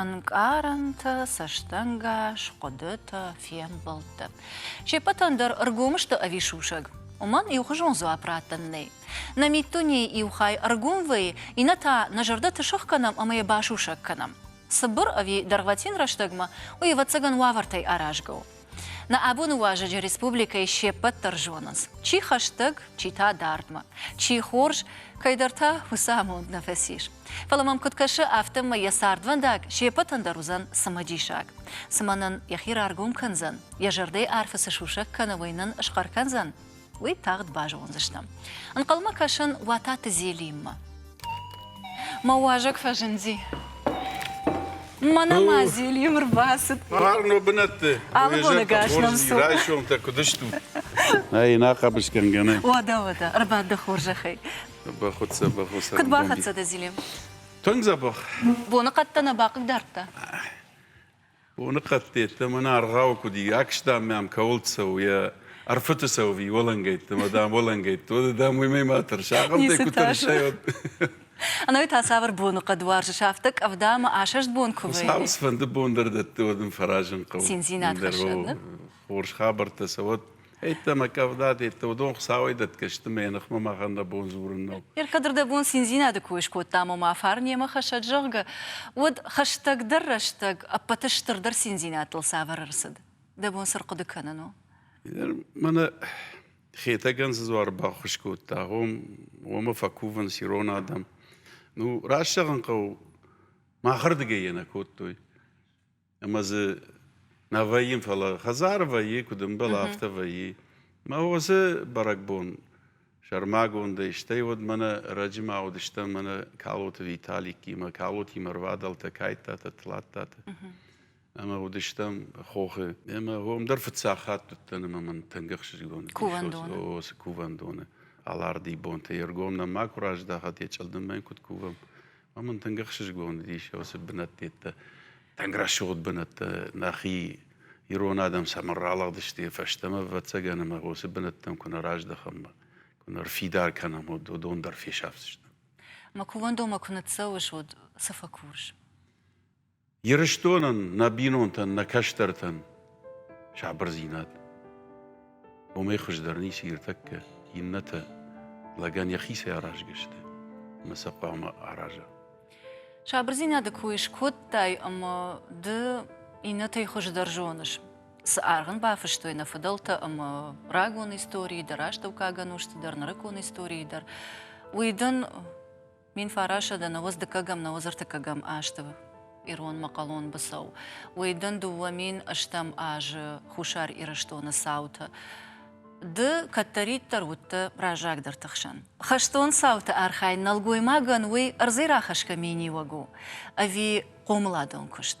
ӕнкъарӕнтӕ, цӕстӕнгас, хъуыдытӕ, фембӕлдтӕ. Се ппӕтӕн дӕр ӕргом сты ӕви сусӕг, уымӕн иухуызон дзуапп раттӕн нӕй. Нӕ миддунейы иу хай ӕргом вӕййы, иннӕ та нӕ зӕрдӕты сых кӕнӕм ӕмӕ йӕ басусӕг кӕнӕм. Цыбыр ӕви дӕргъвӕтин рӕстӕгмӕ, уый, ӕвӕццӕгӕн, уавӕртӕй аразгӕ у. Нӕ абоны уазӕджы республикӕйы се ппӕт дӕр зонынц, чи хӕстӕг, чи та дардмӕ, чи хорз, кӕйдӕртӕ уыцы амонд нӕ фӕцис. Фӕлӕ мӕм куыд кӕсы, афтӕмӕй йӕ цардвӕндаг се ппӕтӕн дӕр уыдзӕн цымыдисаг. Цымӕ нын йӕхи раргом кӕндзӕн, йӕ зӕрдӕйы арфы цы сусӕг кӕны, уый нын схъӕр кӕндзӕн? уый тагъд базондзыстӕм. Ӕнхъӕлмӕ кӕсын Уататы Зелиммӕ. Мӕ уазӕг фӕзынди. Мӕнӕ ма Зелим рбацыд. Хъарм бынӕтты. Алы боны гӕс нӕм цу. Райсомтӕ куыд стут? Ӕй, нӕ хъӕбысгӕнгӕ нӕ. Уӕдӕ, уӕдӕ, ӕрбад дӕ хорзӕхӕй. Бахуыццӕ, бахуыццӕ. Куыд бахӕццӕ дӕ, Зелим? Тынг дзӕбӕх. Боныхъӕдтӕ нӕ бахъыгдардта? Боныхъӕдтӕ мӕн аргъауы куыд и, акстам мӕм кӕуыл цӕуы йӕ ӕрфыты цӕуы иолӕнгӕйттӕ, мадам, олӕнгӕйттӕ, дам, уый мӕй ма тӕрс, ахӕм дӕ куы тӕрсай, уӕд. Ӕнӕ уый та цавӕр боныхъӕд уарзыс, афтӕ къӕвда мӕ асӕст бон куы вӕййы? Цавӕр фӕнды бон дӕр дӕтты, уӕд ын фӕразын хъӕуы. Циндзинад хӕссӕд, ныр? Хорз хабӕрттӕ сӕ уӕд. Еттӕ мӕ кӕвдат, еттӕ уыдон Хуыцауӕй дӕтгӕ сты мӕ ныхмӕ махӕн дӕ бон дзурын нӕу. Иркадр дӕ бон циндзинады кой скодта, ма мӕ фарн йемӕ хӕссӕд, зӕгъгӕ, уӕд хӕстӕгдӕр рӕстӕг ӕппӕты стырдӕр циндзинӕдтыл цавӕр ӕрцыд? Дӕ бон цы рхъуыды кӕнын у? Мӕнӕ Хетӕгӕн цы дзуары баххуыс кодта, уомӕ фӕкувынц ирон адӕм. Ну, раст зӕгъын хъӕуы, махырдыгӕй йӕ нӕ кодтой. ӕмӕ дзы нӕ вӕййын, фӕлӕ хӕдзар вӕййы, куыд ӕмбӕлы, афтӕ вӕййы. Мӕ уыцы бӕрӕгбон сӕрмагондӕй, стӕй уӕд мӕнӕ ӕрӕджы ма уыдыстӕм мӕнӕ Калоты Виталикимӕ, Калотимӕ рвадӕлтӕ Кайттаты, Тлаттаты. Ӕмӕ уыдыстӕм хохы. Ӕмӕ уым дӕр фыццаг хатт уыдтӕн ӕмӕ мын тынг ӕхсызгон кувӕндоны. О, цы кувӕндоны. Аларди бонтӕ. Йе ргом нӕм ма куы раздахат, йӕ чъылдым мӕн куыд кувӕм. Амӕн тынг ӕхсызгон уыдис уыцы бынӕттӕ, тынг рӕсугъд бынӕттӕ нӕхи ирон адӕм цӕмӕн ралыгъдысты фӕстӕмӕ, ӕвӕццӕгӕн, ӕмӕ уыцы бынӕттӕм куы нӕ раздӕхӕм, куы нӕ ӕрфидар кӕнӕм, уӕд уыдон дӕр фесӕфдзысты. Ма кувӕндонмӕ куы ныццӕуыс, уӕд цы фӕкурыс? Ирыстонӕн, нӕ бинонтӕн, нӕ кӕстӕртӕн сабырдзинад. Уымӕй хуыздӕр ницы иртӕккӕ, иннӕтӕ лӕгӕн йӕхицӕй аразгӕ сты ӕмӕ сӕ хъуамӕ араза. Сабырдзинады кой скодтай ӕмӕ ды иннӕтӕй хуыздӕр зоныс. Цы аргъ ын бафыстой нӕ фыдӕлтӕ ӕмӕ рагон историйы дӕр, астӕуккаг ӕнусты дӕр, нырыккон историйы дӕр, уый дын Мин фарасӕдӕ нӕуӕдз дыккӕгӕм нӕуӕдзӕртыккӕгӕм азты иронмӕ хъалон быцӕу. Уый дын дыууӕ мин ӕстӕм азы Хуссар Ирыстоны цаутӕ. Ды кӕддӕриддӕр уыдтӕ разагдӕрты хсӕн. Хӕстон цауты архайд нӕлгоймагӕн уый ӕрдзӕй рахӕсгӕ миниуӕг у ӕви хъомыладон куыст?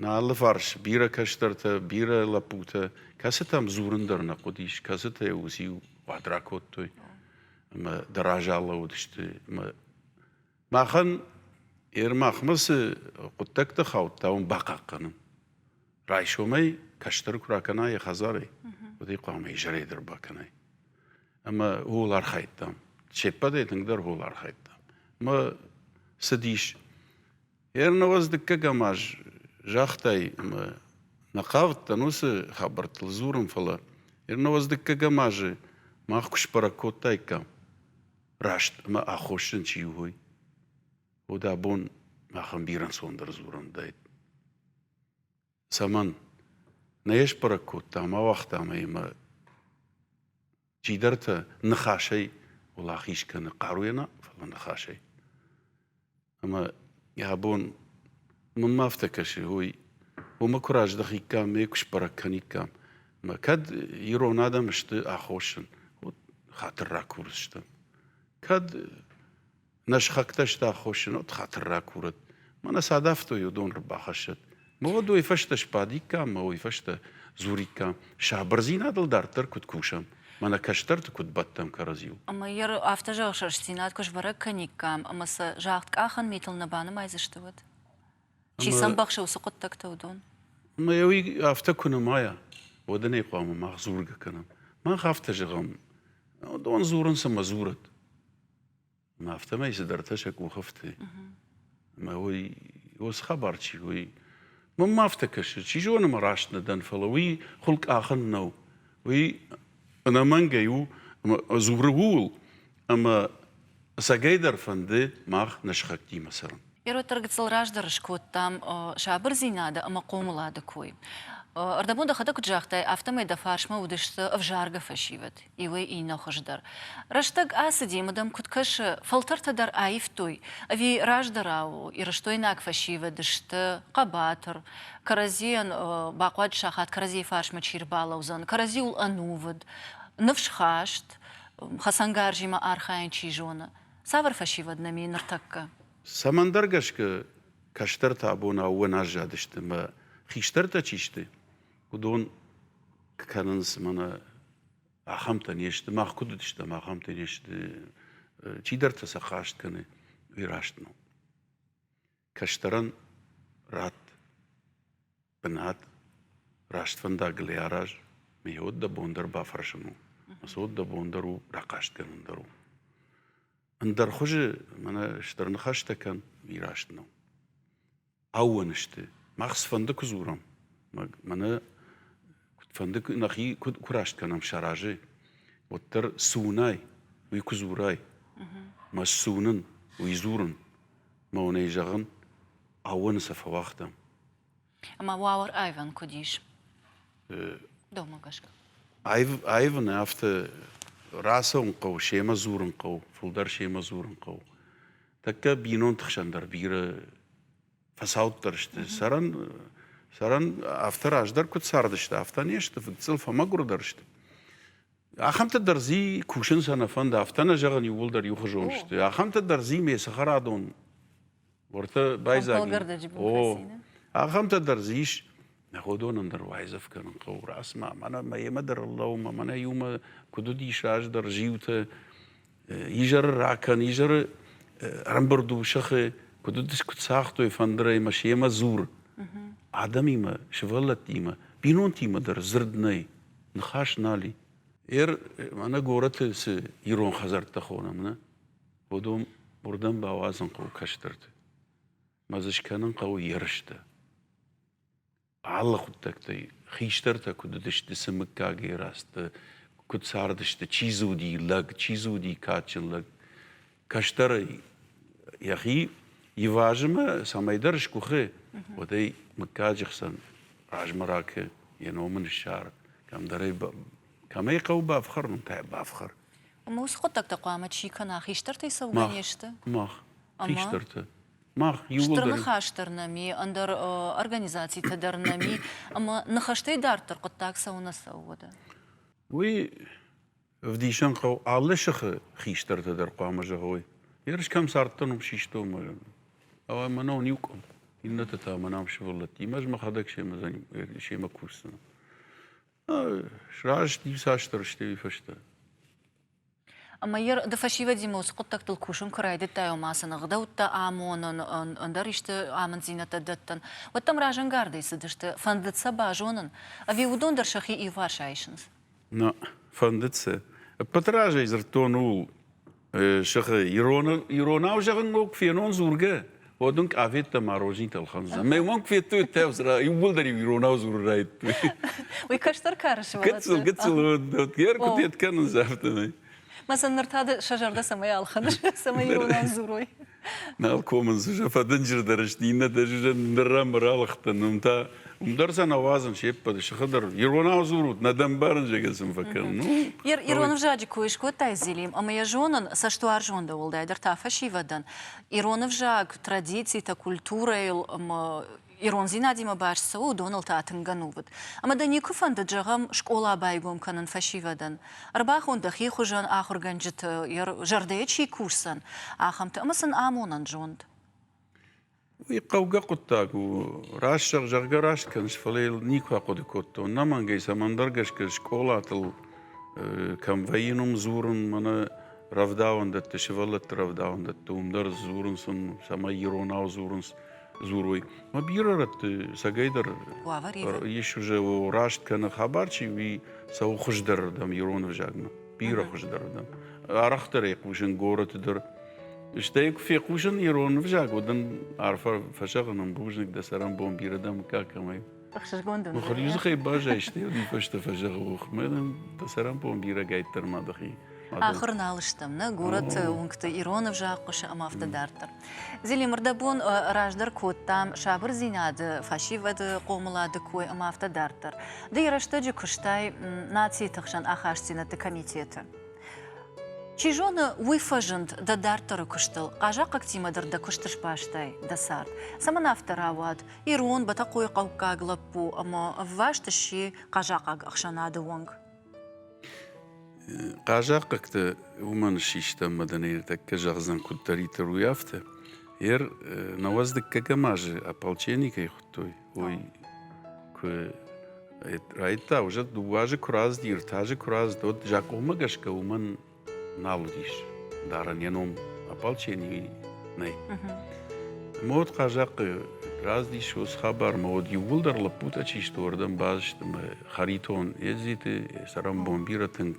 Нӕ алыфарс бирӕ кӕстӕртӕ, бирӕ лӕппутӕ, кӕцытӕм дзурын дӕр нӕ хъуыдис, кӕцытӕ уыциу уад ракодтой ӕмӕ дӕр азӕллӕуыдысты. Ӕмӕ махӕн Ермахмӕ цы хъуыддӕгтӕ хаудта, уым бахъахъхъӕнын. Райсомӕй кӕстӕр куы ракӕна йӕ хӕдзарӕй, уӕд ӕй хъуамӕ изӕрӕй дӕр бакӕнай. Ӕмӕ ууыл архайдтам. Се ппӕтӕй тынгдӕр ууыл архайдтам. Ӕмӕ цыдис Ернауӕз дыккӕгӕм аз загътай, ӕмӕ нӕ хъавыдтӕн уыцы хабӕрттыл дзурын, фӕлӕ Ернауӕз дыккӕгӕм азы мах куы сбӕрӕг кодтаиккам, раст ӕмӕ аххосджын чи у, уый, уӕд абон махӕн бирӕ ӕнцондӕр дзурӕн уыдаид. Цӕмӕн? Нӕ сбӕрӕг кодтам, ауагътам ӕй ӕмӕ чидӕртӕ ныхасӕй уӕлахиз кӕны хъаруйӕ нӕ, фӕлӕ ныхасӕй. Ӕмӕ йӕ бон мын ма афтӕ кӕсы, ой, уымӕ куы раздӕхиккам, ме куы сбӕрӕг кӕниккам. Мӕ кӕд ирон адӕм сты аххосын, хатыр ракурдзыстӕм. Кӕд Нӕ схӕгтӕ сты аххосджынот хатыр ракурӕт. Мӕнӕ цы адавтой, уыдон ӕрбахӕссӕт. Ма уӕд уый фӕстӕ сбадиккам, ма уый фӕстӕ дзуриккам. Сабырдзинадыл дарддӕр куыд кусӕм, мӕнӕ кӕстӕрты куыд бӕттӕм кӕрӕдзиу. Ӕмӕ йӕ афтӕ зӕгъыс, рӕстдзинад куы сбӕрӕг кӕниккам, ӕмӕ сӕ загъдкъахӕн митыл нӕ банымайдзысты уӕд? Чи сӕмбӕхсы уыцы хъуыддӕгтӕ уыдон? Ӕмӕ йӕ уый афтӕ куы нымайа, уӕд ын ӕй хъуамӕ мах дзургӕ кӕнӕм. Мах афтӕ зӕгъӕм, уыдон дзурынц ӕмӕ дзурӕт. Ӕмӕ афтӕмӕй цыдӕртӕ сӕ къухы фты. Ӕмӕ уый, уыцы хабар чи у, уый мӕн ма афтӕ кӕсы, чи зоны мӕ раст нӕ дӕн, фӕлӕ уый хуыл къахӕн нӕу. Уый ӕнӕмӕнгӕй у ӕмӕ дзуры ууыл, ӕмӕ сагӕйдӕр фӕнды мах не схӕгтимӕ цӕрын. Ӕрвыддӕр гыццыл раздӕр скодтам сабырдзинады ӕмӕ хъомылады кой. Ӕрдӕбон дӕхӕдӕг куыд загътай, афтӕмӕй дӕ фарсмӕ уыдысты ӕвзаргӕ фӕсивӕд, иуӕй иннӕ хуыздӕр. Рӕстӕг ацыди, мыдам куыд кӕсы, фӕлтӕртӕ дӕр аивтой, ӕви раздӕрау ирыстойнаг фӕсивӕд сты хъӕбатыр, кӕрӕдзийӕн бахъуад сахат кӕрӕдзийы фарсмӕ чи рбалӕудзӕн, кӕрӕдзиуыл ӕнувыд, ныфсхаст, хӕцӕнгарзимӕ архайын чи зоны. Цавӕр фӕсивӕд нӕм и ныртӕккӕ? Цӕмӕндӕр гӕсгӕ кӕстӕртӕ абон ӕууӕн аззадысты ӕмӕ хистӕртӕ чи сты, уыдон кӕнынц мӕнӕ ахӕмтӕ не сты, мах куыд уыдыстӕм, ахӕмтӕ не сты, чидӕртӕ сӕ хаст кӕны раст нӕу. Кӕстӕрӕн ратт бынат, раст фӕндагыл ӕй араз, мыййаг дӕ бон дӕр бафӕрсын у, ӕмӕ цы уыд дӕ бон дӕр у, рахъастгӕнӕн дӕр у. Ӕндӕр хуызы мӕнӕ стыр ныхӕстӕ кӕн, ми раст нӕу. Ӕууӕнысты. Мах цыфӕнды куы дзурӕм, мӕнӕ куыдфӕнды нӕхи куыд куы раст кӕнӕм сӕ разӕй, уӕддӕр цы уынай, уый куы дзурай. Мӕ цы уынын, уый дзурын. Монӕй зӕгъын, ауӕны сӕ фӕуагътам. Ӕмӕ уавӕр айвӕн куыд ис? Домӕ гӕсгӕ. Айв, айвын афтӕ рацӕуын хъӕуы, семӕ дзурын хъӕуы, фылдӕр семӕ дзурын хъӕуы. Тӕккӕ бинонты хсӕн дӕр бирӕ фӕцауддӕр сты. Сӕрӕн, сӕрӕн афтӕ раздӕр куыд цардысты, афтӕ не сты, фыдцъыл фӕмӕгуырдӕр сты. Ахӕмтӕ дӕр дзи кусын сӕ нӕ фӕнды, афтӕ нӕ зӕгъын иууылдӕр иухуызон сты. Ахӕмтӕ дӕр дзи ме цӕхӕрадон уӕртӕ байдзаг. О, ахӕмтӕ дӕр дзы ис, нӕ уыдонӕн дӕр уайдзӕф кӕнын хъӕуы расмӕ. Мӕнӕ мӕ йемӕ дӕр ӕрлӕуы мӕ мӕнӕ иумӕ куыд уыдис аз дӕр зиутӕ изӕры ракӕн, изӕры ӕрӕмбырд у сӕхы, куыд уыдис, куыд цагътой фӕндырӕй мӕ семӕ дзур. Адӕмимӕ, сывӕллӕттимӕ, бинонтимӕ дӕр дзырд нӕй, ныхас нал и. Эр мӕнӕ горӕты цы ирон хӕдзӕрттӕ хонӕм, нӕ? Уыдон уырдӕм бауадзын хъӕуы кӕстӕрты. Мӕ дзы скӕнын хъӕуы ерыстӕ. алы хъуыддӕгтӕй хистӕртӕ куыд уыдысты цы мыггагӕй рӕзты, куыд цардысты, чи дзы уыди лӕг, чи дзы уыди кадджын лӕг. Кӕстӕрӕй йӕхи ивазы мӕ цӕмӕйдӕр скъуыхы, уӕдӕй мыггаджы хсӕн размӕ ракы, йӕ ном ын ссары. Кӕмдӕрӕй кӕмӕй хъӕуы бафхӕрын, кӕй бафхӕр. Ӕмӕ уыцы хъуыддӕгтӕ хъуамӕ чи кӕна, хистӕртӕй цӕугӕ не сты? Мах, хистӕртӕ. мах Стыр ныхас дӕр нӕми, ӕндӕр организацитӕ дӕр нӕми, ӕмӕ ныхӕстӕй дарддӕр хъуыддаг цӕуынӕ цӕуы уӕдӕ? Уый ӕвдисӕн хъӕуы алы сыхы хистӕртӕ дӕр хъуамӕ зӕгъой. Ерыс кӕм цардтӕн, уым систон мӕ Ӕмӕ мӕнӕ уын иу къуым. Иннӕты та мӕнӕм сывӕллӕттимӕ ӕз мӕхӕдӕг семӕ семӕ кусдзынӕн. Сраст иуцасдӕр сты уый фӕстӕ. Ӕмӕ йӕ ды фӕсивӕдимӕ уыцы хъуыддӕгтыл кусын куы райдыдтай, ома цы ӕгъдӕуттӕ амонын, ӕндӕр исты амынддзинӕдтӕ дӕттын, уӕд дӕм разӕнгардӕй цыдысты, фӕндыд сӕ базонын, ӕви уыдон дӕр сӕхи иуварс айсынц? Нӕ фӕндыд цы? Ӕппӕты разӕй дзырдтон ууыл, сӕхи иронау зӕгъын ног фенон дзургӕ, Уӕд ын къафеттӕ мӕ розинтӕ ӕлхӕндзӕн. Мӕ уонг федтой тӕвзра, иууылдӕр-иу иронау дзурын райдтой. Уый кӕстӕр кары сывӕллӕттӕ? Гыццыл, гыццыл, йе ркуыдет кӕнынц афтӕмӕй. Мӕсӕн, ныр та ды сӕ зӕрдӕ цӕмӕй ӕлхӕныс, цӕмӕй иронау дзурой? Нал комынц, фӕдынджырдӕр сты, иннӕтӕ сусӕн ныррӕмбыр алыгъдтӕн, уым та уым дӕр сӕ нӕ уадзын се ппӕты, сыхы дӕр. Иронау дзурут, нӕ дӕ мбарын, зӕгӕ сын фӕкӕн. Ну? Ирон ӕвзаджы кой скодтай, Зелим, ӕмӕ йӕ зонын, цӕстуарзон дӕ уӕлдай дӕр та фӕсивӕдӕн. ирон ӕвзаг, традицитӕ, культурӕйыл ӕмӕ ирондзинадимӕ баст цы у, уыдоныл та тынг ӕнувыд. Ӕмӕ дӕ никуы фӕндыд, зӕгъӕм, скъола байгом кӕнын фӕсивӕдӕн? Ӕрбахон дӕхи хуызӕн ахуыргӕнджыты зӕрдӕйы чи кусдзӕн, ахӕмты ӕмӕ сын амонӕн зонд. Уый хъӕугӕ хъуыддаг у. Раст зӕгъ, зӕгъгӕ раст кӕныс, фӕлӕ йыл никуы ахъуыды кодтон. Ӕнӕмӕнгӕй, цӕмӕндӕр гӕсгӕ скъолатыл кӕм вӕййын, уым дзурын, мӕнӕ рӕвдауӕндӕтты, сывӕллӕтты рӕвдауӕндӕтты уым дӕр дзурынц уым, цӕмӕй иронау дзурынц дзурой. Мӕ бирӕ рӕтты сӕгӕйдӕр ис уже раст кӕны хабар, чи уи цӕуы хуыздӕрырдӕм ирон ӕвзагмӕ. Бирӕ хуыздӕрырдӕм. Арӕхдӕр ӕй хъусын горӕты дӕр. Стӕй куы фехъусын ирон ӕвзаг, уӕд ын арфӕ фӕсӕгъын ӕм бузныг дӕ сӕрӕнбон бирӕ дӕм мыггаг кӕмӕй. Ӕхсызгонд дӕн. Махур дзыхӕй базайстай, уый фӕстӕ фӕзӕгъы, ох, мӕнӕн дӕ сӕрӕмпон бирӕгӕйддӕр ма дӕхи. Ахуыр нал стӕм, нӕ горӕты уынгты ирон ӕвзаг хъуысы ӕмӕ афтӕ дарддӕр. Зелимырдӕбон раздӕр кодтам сабырдзинады, фӕсивӕды, хъомылады кой ӕмӕ афтӕ дарддӕр. Ды йӕ рӕстӕджы куыстай нацийы тыхсӕн ахастдзинӕдты комитеты. Чи зоны, уый фӕзынд дӕ дарддӕры куыстыл, хъазахъхъӕгтимӕ дӕр дӕ куысты сбастай дӕ цард. Цӕмӕн афтӕ рауад, ирон Бӕтӕхъойы хъӕуккаг лӕппу ӕмӕ ӕвваст сси хъазахъаг ӕхсӕнады уӕнг. Хъазахъхъӕгты уымӕн систӕм мадӕнӕй ныртӕккӕ зӕгъдзӕн куыддӕриддӕр уый афтӕ. Ер науӕдз дыккӕгӕм азы ополченникӕй хуыдтой. Уый куы райдта, уже дыууӕ азы куы раздди, ӕртӕ азы куы раздзыд, уӕд закъонмӕ гӕсгӕ уымӕн нал уыдис дарын йӕ ном ополченный нӕй ӕмӕ уӕд хъазахъхъы раздис уыцы хабар ӕмӕ уӕд иууылдӕр лӕппутӕ чи сты уырдӕм базысты ӕмӕ хӕритон едзиты сӕрӕнбон бирӕ тынг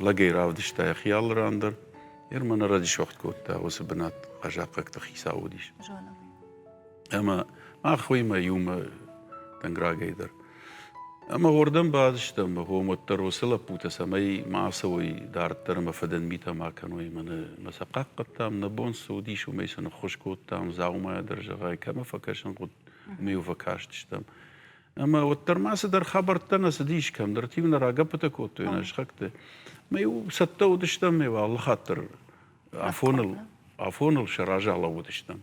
лӕгӕй равдыста йӕхи алы ран дӕр йе рмӕ нӕ радисуӕгъд кодта уыцы бынат хъазахъхъӕгты хицау уыдис зоновый Ӕмӕ мах уыимӕ иумӕ тынг рагӕй дӕр. Ӕмӕ уырдӕм бадыстӕм, гъом уӕддӕр уыцы лӕппутӕ, цӕмӕй ма ацӕуой дарддӕр ӕмӕ фыдӕн митӕ ма кӕной. Ӕмӕ нӕ мӕ сӕ хъахъхъӕдтам, нӕ бон цы уыдис, уымӕй сын ӕххуыс кодтам, дзаумайӕ дӕр зӕгъай, кӕмӕ фӕкӕсын хъуыд, уымӕ-иу фӕкастыстӕм. Ӕмӕ уӕддӕр ма цыдӕр хабӕрттӕ нӕ цыдис, кӕмдӕрты-иу нӕ рагӕппытӕ кодтой, нӕ схӕгты. Ӕмӕ-иу цӕттӕ уыдыстӕм, ӕмӕ алы хатт дӕр афоныл афоныл сӕ разы алӕууыдыстӕм.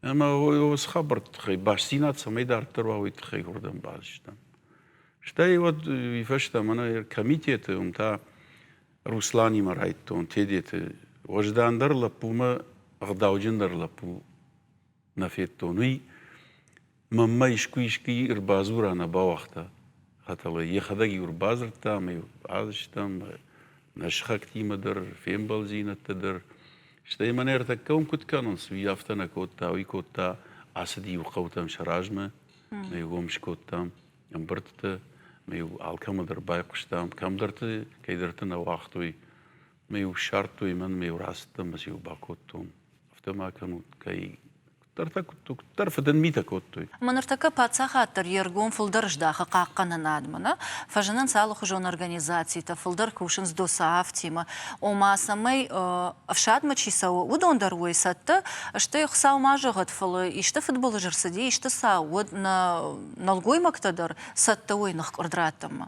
Ӕмӕ уыцы хабӕртты тыххӕй бастдзинад цӕмӕй дарддӕр уа, уый тыххӕй уырдӕм бацыдыстӕм. Стӕй уӕд уый фӕстӕ мӕнӕ комитеты уым та Русланимӕ райдтон Тедеты уӕздандӕр лӕппумӕ ӕгъдауджындӕр лӕппу нӕ федтон, уый мӕммӕ искуы-искуы ӕрбадзура нӕ бауагъта. Хӕтӕлӕй йӕхӕдӕг-иу ӕрбадзырдта, ӕмӕ-иу базыстӕм нӕ сыхӕгтимӕ дӕр, фембӕлдзинӕдтӕ дӕр. Стӕй мӕнӕ ӕртӕккӕ уын куыд кӕнон, цы уый афтӕ нӕ кодта, уый кодта, ацыди иу хъӕутӕм сӕ размӕ, ӕмӕ-иу уым скодтам ӕмбырдтӕ, ӕмӕ-иу алкӕмӕ дӕр байхъуыстам, кӕмдӕрты, кӕйдӕрты нӕ уагътой. ме-иу ссардтой мӕн, ме-иу рацыдтӕн, ӕмӕ-иу бакодтон. Афтӕ ма кӕнут, кӕй куыддӕртӕ куыдтук, куыддӕр фыдӕн митӕ кодтой. Ма ныртӕккӕ паддзахад дӕр йе ргом фылдӕр здахы хъахъхъӕнынадмӕ нӕ фӕзынынц алыхуызон организацитӕ, фылдӕр кусынц ДОСААФ-тимӕ, ома, цӕмӕй, ӕфсадмӕ чи цӕуы, уыдон дӕр уой цӕттӕ сты. Хуыцау ма зӕгъӕд, фӕлӕ исты фыдбылыз рцыди, исты цау уӕд нӕ нӕлгоймӕгтӕ дӕр цӕттӕ уой ныхкъуырд раттынмӕ.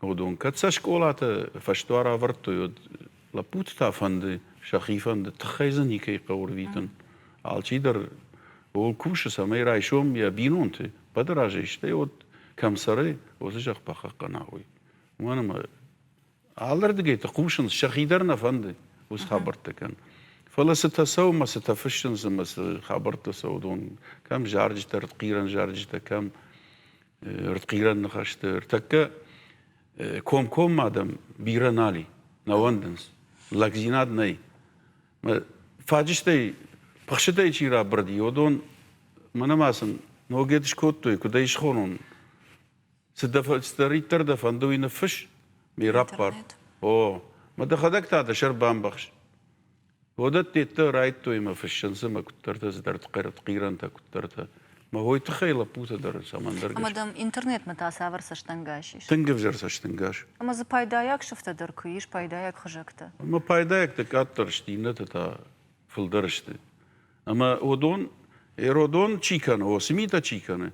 уыдон кӕд сӕ скъолаты фӕсдуар ӕвӕрдтой, уӕд лӕппуты та фӕнды, сӕхи фӕнды, тыххӕй дзы никӕй хъӕуы рвитын. Алчидӕр ууыл кусы, цӕмӕй райсом йӕ бинонты бады разӕй, стӕй уӕд кӕм цӕры, уыцы зӕхх бахъахъхъӕна уый. Уымӕн ӕмӕ алырдыгӕй ты хъусынц, сӕхи дӕр нӕ фӕнды уыцы хабӕрттӕ кӕн. Фӕлӕ цытӕ цӕуы, цытӕ фыссынц ӕмӕ цы хабӕрттӕ цӕуы, уыдон кӕм зарджытӕ, хъирӕн зарджытӕ, кӕм ӕртхъирӕн ныхӕсты ӕртӕккӕ комкоммӕ адӕм бирӕ нал и, нӕ уӕндынц, лӕгдзинад нӕй. Фаджыстӕй, пыхсытӕй чи рабырыди, уыдон мӕнӕ ма сын ногӕд скодтой, куыд ӕй схонон? Цыдӕриддӕр дӕ фӕнды, уый ныффысс, ме раппар. О, мӕ дӕхӕдӕг та дӕ сӕр бамбӕхс. Уыдӕттӕ райдтой мӕ фыссынц мӕ куыддӕртӕ цыдӕр хъӕртхъирӕнтӕ, куыддӕртӕ. Мӕ уой тыххӕй лӕппутӕ дӕр цӕмӕндӕр Ӕмӕ дӕм интернетмӕ та цавӕр цӕстӕнгас ис? Тынг ӕвзӕр цӕстӕнгас. Ӕмӕ дзы пайдайаг сыфтӕ дӕр куы ис, пайдайаг хызӕгтӕ. Ӕмӕ пайдайӕгтӕ къаддӕр сты, иннӕтӕ та фылдӕр сты. Ӕмӕ уыдон, Эродон чи кӕны, о, цы митӕ чи кӕны,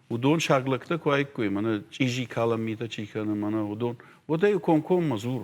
уыдон саг лӕгтӕ куы айккой, мӕнӕ чъизи калӕн митӕ чи кӕны, мӕнӕ уыдон, уӕдӕ-иу комкоммӕ дзур.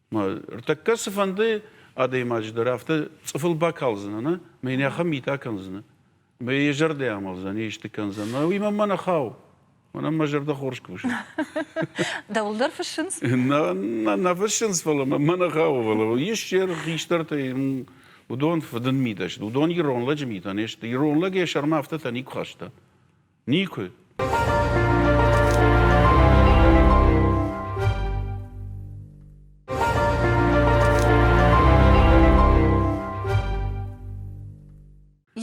Ӕртӕккӕ цыфӕнды адӕймаджы дӕр афтӕ цъыфыл бакалдзынӕ, нӕ? Мӕ йын ахӕм митӕ кӕндзынӕ. Мӕ йӕ зӕрдӕ амӕлдзӕн, йӕ исты кӕндзӕн. Уый-ма мӕ нӕ хау. Мӕнӕн мӕ зӕрдӕ хорз кусы. Дӕуыл дӕр фыссынц? Нӕ, нӕ фыссынц, фӕлӕ мӕ нӕ хауы. Фӕлӕ ис хистӕртӕй уыдон фыдын митӕ сты. Уыдон ирон лӕджы митӕ не сты. Ирон лӕг йӕ сӕрмӕ афтӕтӕ никуы хаста. Никуы.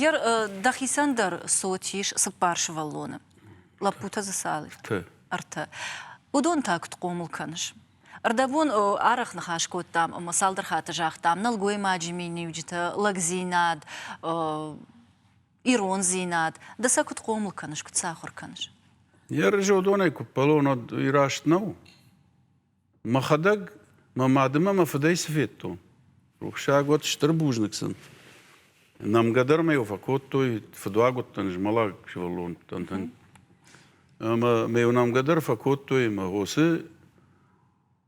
Ер дӕхицӕн дӕр цот ис цыппар сывӕллоны. Лӕппутӕ дзы цал? Ӕртӕ. Ӕртӕ. Уыдон та куыд хъомыл кӕныс? Ӕрдӕбон арӕх ныхас кодтам ӕмӕ цалдӕр хатты загътам, нӕлгоймаджы миниуджытӕ, лӕгдзинад, ирондзинад, ды сӕ куыд хъомыл кӕныс, куыд сӕ ахуыр кӕныс? Ерызодонӕй куыппӕлон уӕд раст нӕу. Мӕхӕдӕг мӕ мады мӕ мӕ фыдӕй цы федтон. Рухсаг уӕд стыр бузныг сын. Нӕмгӕ дӕр мӕ йыл фӕкодтой, фыдуаг уыдтӕн, змӕлӕг сывӕллонтӕн. Ӕмӕ мӕ йыл нӕмгӕ дӕр фӕкодтой, ӕмӕ уыцы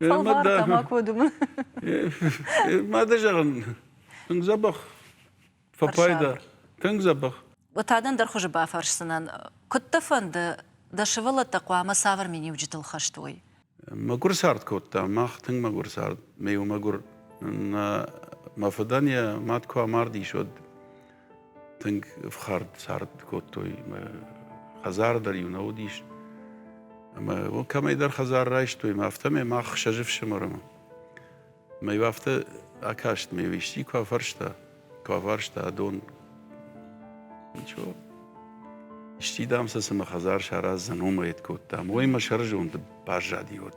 Фӕлварта макуы думын. Мады зӕгъын, тынг дзӕбӕх фӕпайда. Тынг дзӕбӕх. Отадӕн дӕр хуызы бафӕрсдзынӕн, куыд дӕ фӕнды, дӕ сывӕллӕттӕ хъуамӕ цавӕр миниуджытыл хӕст уой? Мӕгуыр цард кодта. Мах тынг мӕгуыр цард. Ме иу мӕгуыр. Нӕ мӕ фыдӕн йӕ мад куы амардис, уӕд тынг ӕфхӕрд цард кодтой мӕ хӕдзар дӕр иу нӕ уыдис ӕмӕ кӕмӕйдӕр хӕдзар райстой мӕ афтӕмӕй мах сӕ фсымӕрмӕ мӕ иу афтӕ акаст ме исчи куы афарста куы афарста дон ничего исчи дам сӕ цы мӕ хӕдзар сараздзӕн уымӕй кодтам уый мӕ сӕрызонды баззади уӕд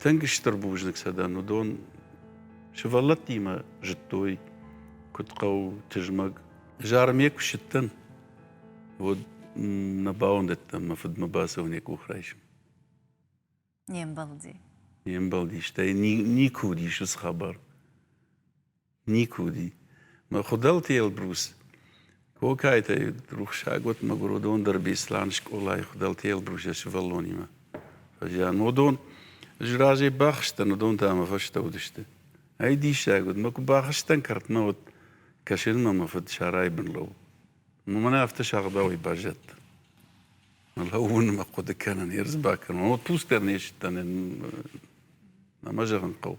Тынг стыр бузныг сӕ дӕн, уыдон сывӕллӕттимӕ зыдтой, куыд хъӕуы тызмӕг. Зармӕ куы ссыдтӕн, уӕд нӕ бауӕндыдтӕн мӕ фыдмӕ бацӕуын йӕ къух райсын. Не мбӕлди. Не мбӕлди, стӕй никуы уыдис цы хабар. Никуы уыди. Мӕ Хуыдӕлты Елбрус, Кокайтӕй рухсаг уыд мӕгуыродон дӕр Беслӕн скъолайы Хуыдӕлты Елбрусы сывӕллонимӕ. Фӕзиан уыдон ӕз разӕй бахызтӕн, уыдон та мӕ фӕстӕ уыдысты. Ӕй диссаг уыд, мӕ куы бахызтӕн кӕртмӕ, уӕд кӕсынмӕ мӕ фыд сарайбын лӕууыд. Мӕн афтӕ сагъдауӕй баззадта. Лӕууын мӕ хъуыды кӕнын, ерыс бакӕнон. Отпуск дӕр не сдтӕн, ӕмӕ зӕгъын хъӕуы.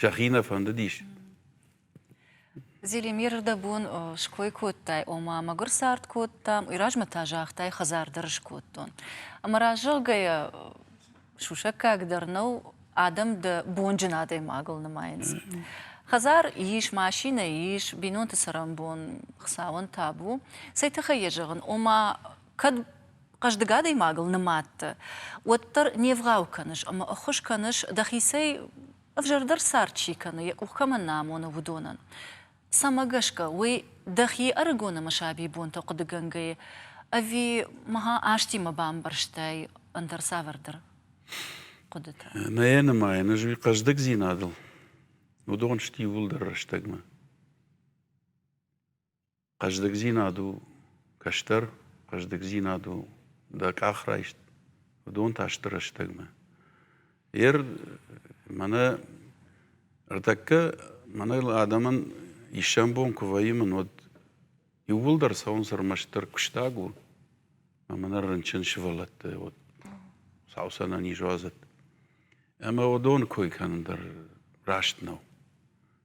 сӕхи нӕ фӕндыдис. Зелимир дӕ бон ской кодтай, ома мӕгуыр цард кодтам, уый размӕ та загътай, хӕдзар дӕр скодтон. Ӕмӕ раззӕгъгӕйӕ сусӕггаг дӕр нӕу, адӕм дӕ бонджын адӕймагыл нымайынц. Хӕдзар ис, машинӕ ис, бинонты цӕрӕнбон Хуыцауӕн табу. Цӕй тыххӕй йӕ зӕгъын, ома кӕд хъӕздыг адӕймагыл нымадты, уӕддӕр не вгъау кӕныс ӕмӕ ӕххуыс кӕныс, дӕхицӕй ӕвзӕрдӕр цард чи кӕны, йӕ къух кӕмӕн нӕ амоны, уыдонӕн. Цӕмӕ гӕсгӕ уый дӕхи ӕрыгонӕмы сабибонтӕ хъуыдыгӕнгӕйы ӕви ма азтимӕ бамбӕрстай ӕндӕр цавӕрдӕр хъуыдытӕ? Нӕ нымайын, ӕз уый хъӕздыгдзинадыл уыдон сты иууылдӕр рӕстӕгмӕ. Хъӕздыгдзинад у кӕстӕр, хъӕздыгдзинад у дӕ къахрайст, уыдон та сты рӕстӕгмӕ. Йе р мӕнӕ ӕртӕккӕ мӕнӕ адӕмӕн иссӕн бон куы вӕййын, уӕд иууылдӕр цӕуынц ӕрмӕстдӕр куыстаг у ӕмӕ нӕ рынчын сывӕллӕтты уӕд сау сӕнӕниз уадзӕт. Ӕмӕ уыдоны кой кӕнын дӕр раст нӕу.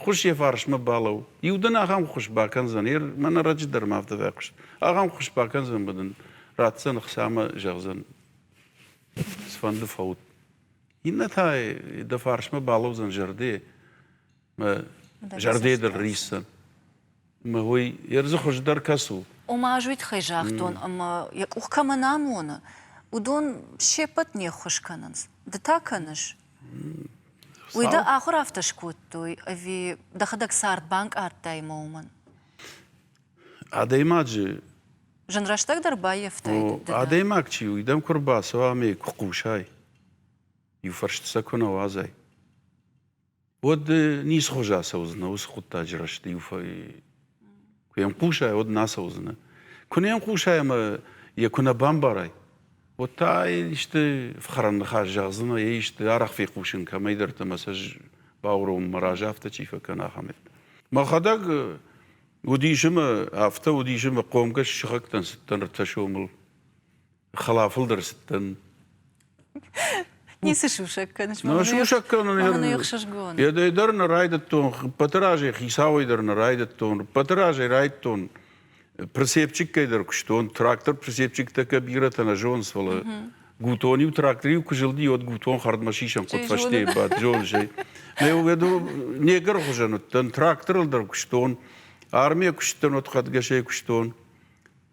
Хъус йӕ фарсмӕ балӕу. Иу дын ахӕм хъус бакӕндзӕн, йе мӕнӕ раджы дӕр ма афтӕ фӕхъус. Ахӕм хъус бакӕндзӕн, быдын ратдзӕн хца ӕмӕ зӕгъдзӕн, цыфӕнды фӕут. Иннӕ та дӕ фарсмӕ балӕудзӕн зӕрде, мӕ зӕрде дыл риссӕн. Ӕмӕ уый ердзы хуыздӕр кӕцы у? Ома ӕз уый тыххӕй загътон, ӕмӕ, йӕ къух кӕмӕн амоны, уыдон се ппӕт не ххуыс кӕнынц. Ды та кӕныс? Уый дӕ ахуыр афтӕ скодтой, ӕви дӕхӕдӕг цард банкъардтай ӕмӕ уымӕн? Адӕймаджы Зын рӕстӕгдӕр баййӕфтай. Адӕймаг чи у, уыдӕм куы рбацӕуа ӕмӕ йӕ куы хъусай, иу фӕрсты сӕ куы нӕ уадзай. уӕд ницхуыз ацӕудзынӕ уыцы хъуыддаджы рӕзты иу фӕй куы йӕм хъусай, уӕд нӕ ацӕудзынӕ. Куы не хъусай ӕмӕ йӕ куы нӕ бамбарай, уӕд та исты фхӕрӕн ныхас зӕгъдзынӕ, йӕ исты арӕх фехъусын кӕмӕйдӕрты мессеж бауромын мӕ разы афтӕ чи фӕкӕна, ахӕмӕй. Мӕхӕдӕг уыдис ӕмӕ афтӕ уыдис ӕмӕ хъомгӕс сыхӕгтӕн цыддӕр ӕртӕ сомыл хӕлафылдӕр цыдтӕн. Ницы сусӕг кӕныс? Нӕ сусӕг кӕнын. Ӕхсызгон. Едӕй дӕр нӕ райдыдтон, ӕппӕты разӕй хицауӕй дӕр нӕ райдыдтон, ӕппӕты разӕй райдыдтон прицепчиккӕй дӕр куыстон. Трактор прицепчиктӕ кӕ бирӕтӕ нӕ зонынц, фӕлӕ гутон-иу тракториу куы зылди, уӕд гутон хӕрдмӕ сисӕн хъуыд фӕстейы бадт, зоныс ӕй. Мӕ уӕдыл негр хуызӕн уыдтӕн, тракторыл дӕр куыстон, армийӕ куыстӕн, уӕд хӕдгӕсӕй куыстон.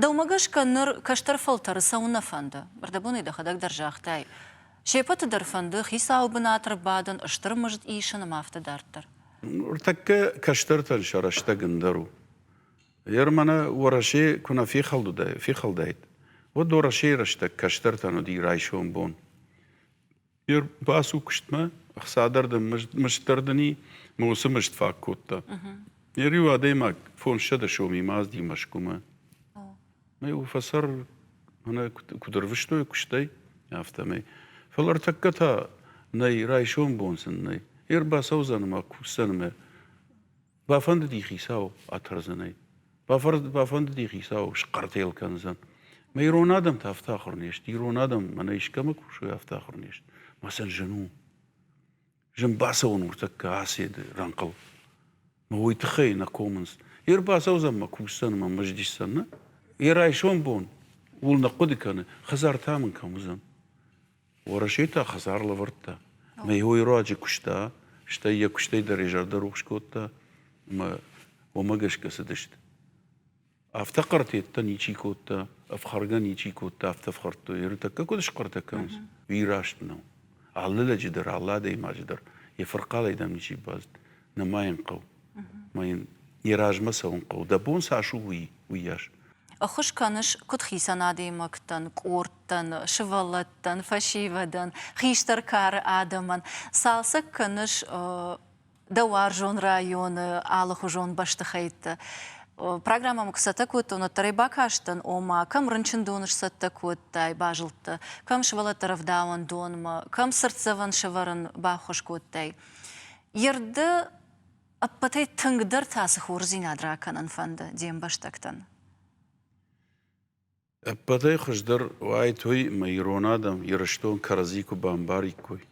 Дӕумӕ гӕсгӕ ныр кӕстӕр фӕлтӕры цӕуын нӕ фӕнды? Ӕрдӕбонӕй дӕхӕдӕг дӕр загътай, се пӕты дӕр фӕнды хицауы бынат ӕрбадын, стыр мызд исын ӕмӕ афтӕ дарддӕр. Ныртӕккӕ кӕстӕртӕн сӕ рӕстӕг ӕндӕр у. Ер мӕнӕ Уӕрӕсе куы нӕ фехӕлдуаид, уӕд Уӕрӕсейы рӕстӕг кӕстӕртӕн уыди райсом бон. Йер бацу куыстмӕ, ӕхцадӕрдӕм мыстдӕрдӕни мӕ уыцы мыст фаг кодта. Йер иу адӕймаг фондзсӕдӕ сомы мазди Мӕскуымӕ. Мӕ у фӕсӕр мӕнӕ куыд ӕрвыстой куыстӕй, афтӕмӕй. Фӕлӕ ӕртӕккӕ та нӕй, райсом бон сын нӕй. Йер бацӕудзӕн ӕмӕ кусдзӕн мӕ Бафӕндыди хицау атӕрдзӕнӕй. Бафӕндыди хицау схъӕртел кӕндзӕн. Мӕ ирон адӕм та афтӕ ахуыр не сты. Ирон адӕм мӕнӕ искӕмӕ кусой, афтӕ ахуыр не сты. Мӕ сын зын у. Зын бацӕуын нуртӕккӕ Асиады рӕнхъыл. Мӕ уый тыххӕй нӕ комынц. Йе рбацӕудзӕн мӕ кусдзӕн, мӕ мыздисдзӕн, нӕ? Йе райсом бон ууыл нӕ хъуыды кӕны, хӕдзар та мын кӕм уыдзӕн? Уӕрӕсе та хӕдзар лӕвӕрдта. Ӕмӕ йӕ уый руаджы куыста, стӕй йӕ куыстӕй дӕр йӕ зӕрдӕ рухс кодта, ӕмӕ уымӕ гӕсгӕ цыдысты. Афтӕ квартеттӕ ничи кодта, ӕфхӕргӕ ничи кодта, афтӕ ӕфхӕрдтой. Ӕртӕккӕ куыд схъӕртӕ кӕнынц, уый раст нӕу. Алы лӕджы дӕр, алы адӕймаджы дӕр йӕ фырхъалӕй дам ничи базыд. Нӕ ма йын хъӕуы. мӕ йын йӕ размӕ цӕуын хъӕуы, дӕ бон цас у уый, уыйас. Ӕххуыс кӕныс куыд хицӕн адӕймӕгтӕн, къордтӕн, сывӕллӕттӕн, фӕсивӕдӕн, хистӕр кары адӕмӕн, цалцӕг кӕныс дӕ уарзон районы алыхуызон бӕстыхӕйттӕ. Программӕмӕ куы цӕттӕ кодтон, уӕддӕр ӕй бакастӕн, ома, кӕм рынчындоны сцӕттӕ кодтай, базылдтӕ, кӕм сывӕллӕтты рӕвдауӕндонмӕ, кӕм цыртдзӕвӕн сӕвӕрын баххуыс кодтай. Йе рдӕ Ӕппӕтӕй тынгдӕр та цы хорздзинад ракӕнын фӕнды де мбӕстӕгтӕн? Ӕппӕтӕй хуыздӕр уаид уый, мӕ ирон адӕм Ирыстон кӕрӕдзи куы бамбариккой,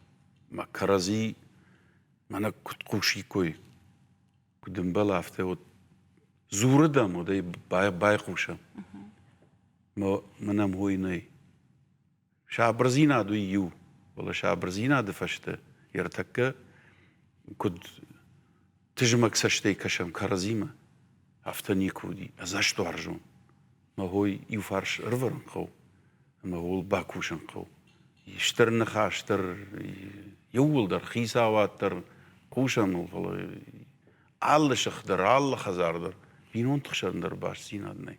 мӕ кӕрӕдзи мӕнӕ куыд хъусиккой, куыд ӕмбӕл, афтӕ уӕд дзурыдӕм уӕд ӕй байхъусӕм. Мӕ мӕнӕм уый нӕй. Сабырдзинад уый иу, фӕлӕ сабырдзинады фӕстӕ йе ртӕккӕ куыд тызмӕг цӕстӕй кӕсӕм кӕрӕдзимӕ, афтӕ никуы уыди. Ӕдзӕстуарзон. Мӕ хой иу фарс ӕрвӕрын хъӕуы, ӕмӕ ууыл бакусын хъӕуы. Стыр ныхас дӕр, иууылдӕр, хицауад дӕр хъусӕм ыл, фӕлӕ алы сых дӕр, алы хӕдзар дӕр бинонты хсӕн дӕр бастдзинад нӕй.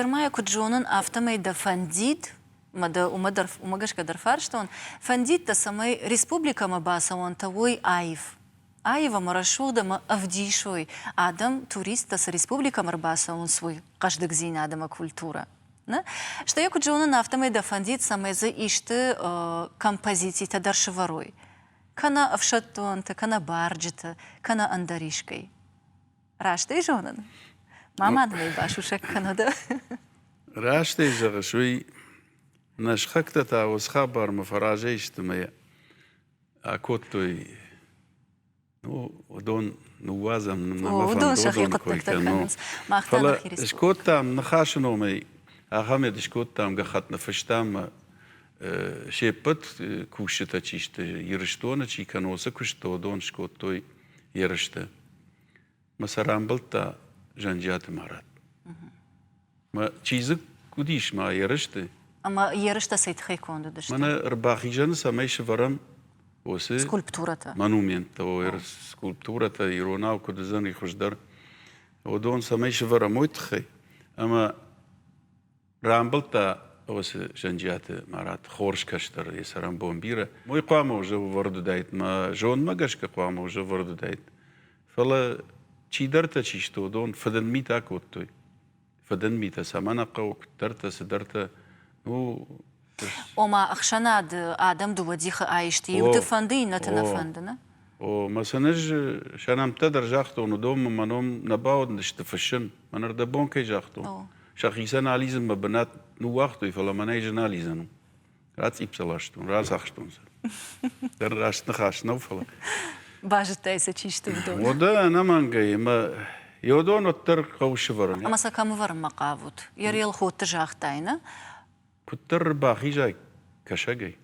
Ермӕ куыд зонын, афтӕмӕй дӕ фӕндид, мӕ дӕ уымӕ, дӕр, уымӕ гӕсгӕ дӕр фарстон, фӕндид дӕ, цӕмӕй республикӕмӕ бацӕуӕнтӕ уой аив, аив ӕмӕ рӕсугъд ӕмӕ ӕвдисой адӕм, туристтӕ цы республикӕмӕ рбацӕуынц, уый хъӕздыгдзинад ӕмӕ культурӕ. Нӕ? Стӕй йӕ куыд зонын, афтӕмӕй дӕ фӕндид, цӕмӕй дзы исты композицитӕ дӕр сывӕрой, кӕнӕ ӕфсӕддонты, кӕнӕ барджыты, кӕнӕ ӕндӕр искӕй. Раст ӕй зонын? Ма мадмӕ басусӕг кӕнӕд. Раст ӕй зӕгъыс, уый нӕ схӕгтӕ та уыцы хабармӕ фӕразӕй сты мӕ акодтой. Ну, уыдон ныууадзӕм нӕмӕ фӕндон кой кӕнон. Фӕлӕ скодтам ныхасы номӕй ахӕмет скодтам гӕххӕтны фыстам се ппӕт кусджытӕ чи сты Ирыстоны чи кӕнӕ уыцы куысты уыдон скодтой ерысты. Мӕ сӕ рамбылдта Зӕнджиаты Марат. Мӕ чизг уыдис ма ерысты. Ӕмӕ ерыстӕ цӕй тыххӕй конд уыдысты? Мӕнӕ ӕрбахизӕны, цӕмӕй сӕвӕрӕм уыцы скульптурӕтӕ. Монументтӕ, скульптурӕтӕ иронау куыд уыдзӕн и хуыздӕр, уыдон цӕмӕй сӕвӕрӕм, уый тыххӕй. Ӕмӕ Рамбылдта осы Зӕнджиаты Марат хорз кӕстӕр йӕ цӕрӕнбон бирӕ. Уый хъуамӕ уызы ӕвӕрд уыдаид, мӕ зонмӕ гӕсгӕ хъуамӕ уызы ӕвӕрд уыдаид. Фӕлӕ чидӕртӕ чи сты, уыдон фыдын митӕ кодтой. Фыдын митӕ цӕмӕн хъӕуы, куыддӕртӕ, цыдӕртӕ. Ну, Ома ӕхсӕнады адӕм дыууӕ дихы аисты, иуты фӕнды, иннӕты нӕ фӕнды, не? О, Масанез сӕнӕмттӕ дӕр загътон, уыдонмӕ мӕ ном нӕ бауыдысты фыссын, мӕн ӕрдӕбон кӕй загътон. Сӕхицӕн алидзынмӕ бынат ныууагътой, фӕлӕ мӕнӕй зын алидзӕн у. Рацъипп сӕ ластон, рацахстон сӕ. Дӕр раст ныхас нӕу, фӕлӕ. Базыдтай сӕ чи сты, уыдон? Уӕдӕ ӕнӕмӕнгӕй, ӕмӕ Иодон уӕддӕр хъӕуы сывӕрын. Ӕмӕ сӕ кӕм ӕвӕрынмӕ хъавут? Йӕ релхотты загътай, нӕ? Куыддӕр ӕрбахизай кӕсагӕй,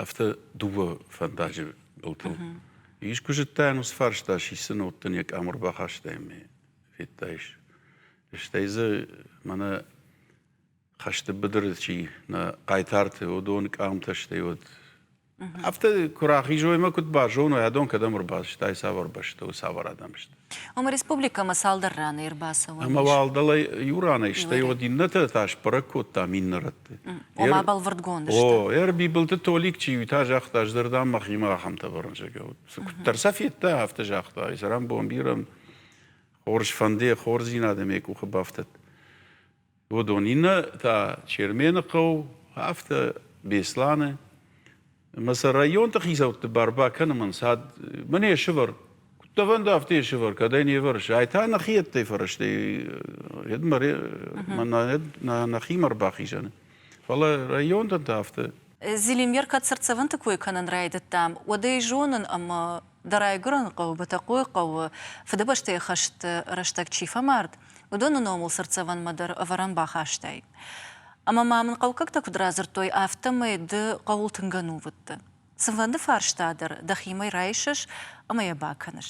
афтӕ дыууӕ фӕндаджы былтыл. Искуы зыдтай, уыцы фарста сисын, уӕд дын йӕ къамур бахастай ӕмӕ федтаис. Стӕй дзы мӕнӕ хӕсты быдыры чи нӕ хъайтарты уыдон къамтӕ, стӕй уӕд Афтӕ куы рахизоймӕ куыд базоной, адон кӕдӕм ӕрбацыдтай, цавӕр бӕстӕ у, цавӕр адӕм сты. Ома республикӕмӕ цалдӕр раны ӕрбацӕуӕн. Ӕмӕ уӕлдӕлӕй иу ранӕй, стӕй уӕд иннӕтӕ та сбӕрӕг кодтам иннӕ рӕтты. Ома бӕлвырдгонд сты. О, Ӕрбибылты Толик чи у, та загъта, ӕз дӕр дам мӕхимӕ ахӕмтӕ бӕрнджыгӕ уыд. Куыддӕр сӕ федта, афтӕ загъта, ай сӕрӕн бомбирӕн хорз фӕнды, хорздзинад ӕм йӕ къухы бафтӕд. уыдон иннӕ та Чермены хъӕу, афтӕ Беслӕны. Ӕмӕ сӕ районты хицӕутты бар бакӕнын ӕнцад мын йе сывӕр Куыдтӕвӕн афтӕ йе сывӕр, кӕдӕй не вӕрсы. Ай та нӕхи ӕддӕй фӕрӕзтӕй ед мӕ нӕхимӕ ӕрбахизӕны. Фӕлӕ районтӕн та афтӕ Зелимер кӕд цыртдзӕвӕнты кой кӕнын райдыдтам, уӕд ӕй зонын, ӕмӕ дӕ райгуырӕн хъӕуы Бытӕхъойы хъӕуы Фыдыбӕстӕйы хӕсты рӕстӕг чи фӕмард, уыдоны номыл цыртдзӕвӕнмӕ дӕр ӕвӕрӕн бахастай. Ӕмӕ ма мын хъӕукӕгтӕ куыд радзырдтой, афтӕмӕй ды хъӕуыл тынг ӕнувыдты. Цынвӕнды фарста дӕр дӕхимӕ райсыс ӕмӕ йӕ бакӕныс.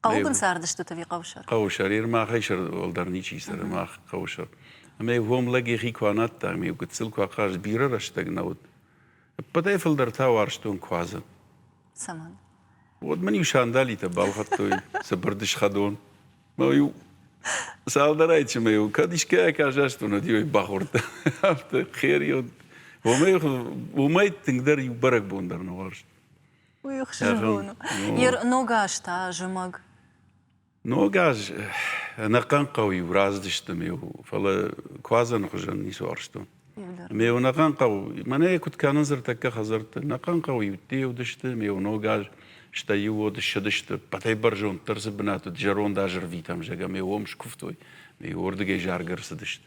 Хъӕуы бын цардыстут ӕви хъӕусӕр? Хъӕусӕр, йе рмӕгъӕйсӕр уӕлдӕр ничи цӕры, мах хъӕусӕр. Ӕмӕ йӕ гом лӕг йӕхи куы анадта, ӕмӕ йӕ гыццыл куы ахъазт, бирӕ рӕстӕг нӕ уыд. Ӕппӕтӕй фылдӕр та уарзтон куадзы. Цӕмӕн? Уӕд мын-иу сандалитӕ балхӕдтой цыбыр дысхӕдон. Мӕ-иу цалдӕрӕй чи мӕ-иу кӕд искӕй акӕсастон, уӕд-иу бахордта. Афтӕ хер уыд. Уымӕй, уымӕй тынгдӕр иу бӕрӕгбон дӕр нӕ уарзт. Уый хсызгон у. Йер ногаз та зымӕг. Ногаз ӕнӕхъӕн хъӕу-иу раздысты ме фӕлӕ куадзӕны хуызӕн ницы уарзтон. Ме нӕхъӕн хъӕу, мӕнӕ куыд кӕнынц ӕртӕккӕ хӕдзӕртты, нӕхъӕн хъӕуы-иутты уыдысты ме ногаз, стӕй иу уод ссыдысты, пъатӕй бӕрзонддӕр цы бынат уыд, зӕронд азырвитӕм, зӕгъгӕ, ме уым скуывтой, ме уырдыгӕй заргӕ ӕрцыдысты.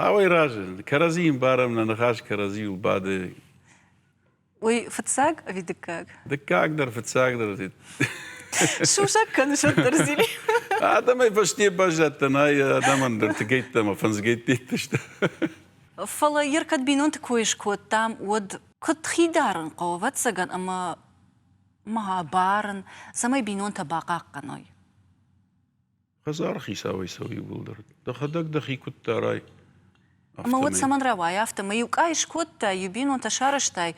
Цауӕй разылд. Кӕрӕдзийы ӕмбарӕм, нӕ ныхас кӕрӕдзийыл бады. Уый фыццаг ӕви дыккаг? Дыккагдӕр, фыццагдӕр. Сусӕг кӕны сӕддӕр зили. Адӕмӕй фӕсте баззадтӕн ай адӕмӕн дӕр тыгӕйттӕ мӕ фӕндзгӕйттӕ сты. Фӕлӕ йер кӕд бинонты кой скодтам, уӕд куыд хидарын хъӕуы, ӕвӕццӕгӕн, ӕмӕ ма барын, цӕмӕй бинонтӕ бахъахъхъӕной? Хӕдзары хицауӕй цӕуы иууылдӕр. Дӕхӕдӕг дӕхи куыд дарай, Ӕмӕ уӕд цӕмӕн рауай, афтӕ мӕ иу къӕй скодтай, иу бинонтӕ сарӕзтай,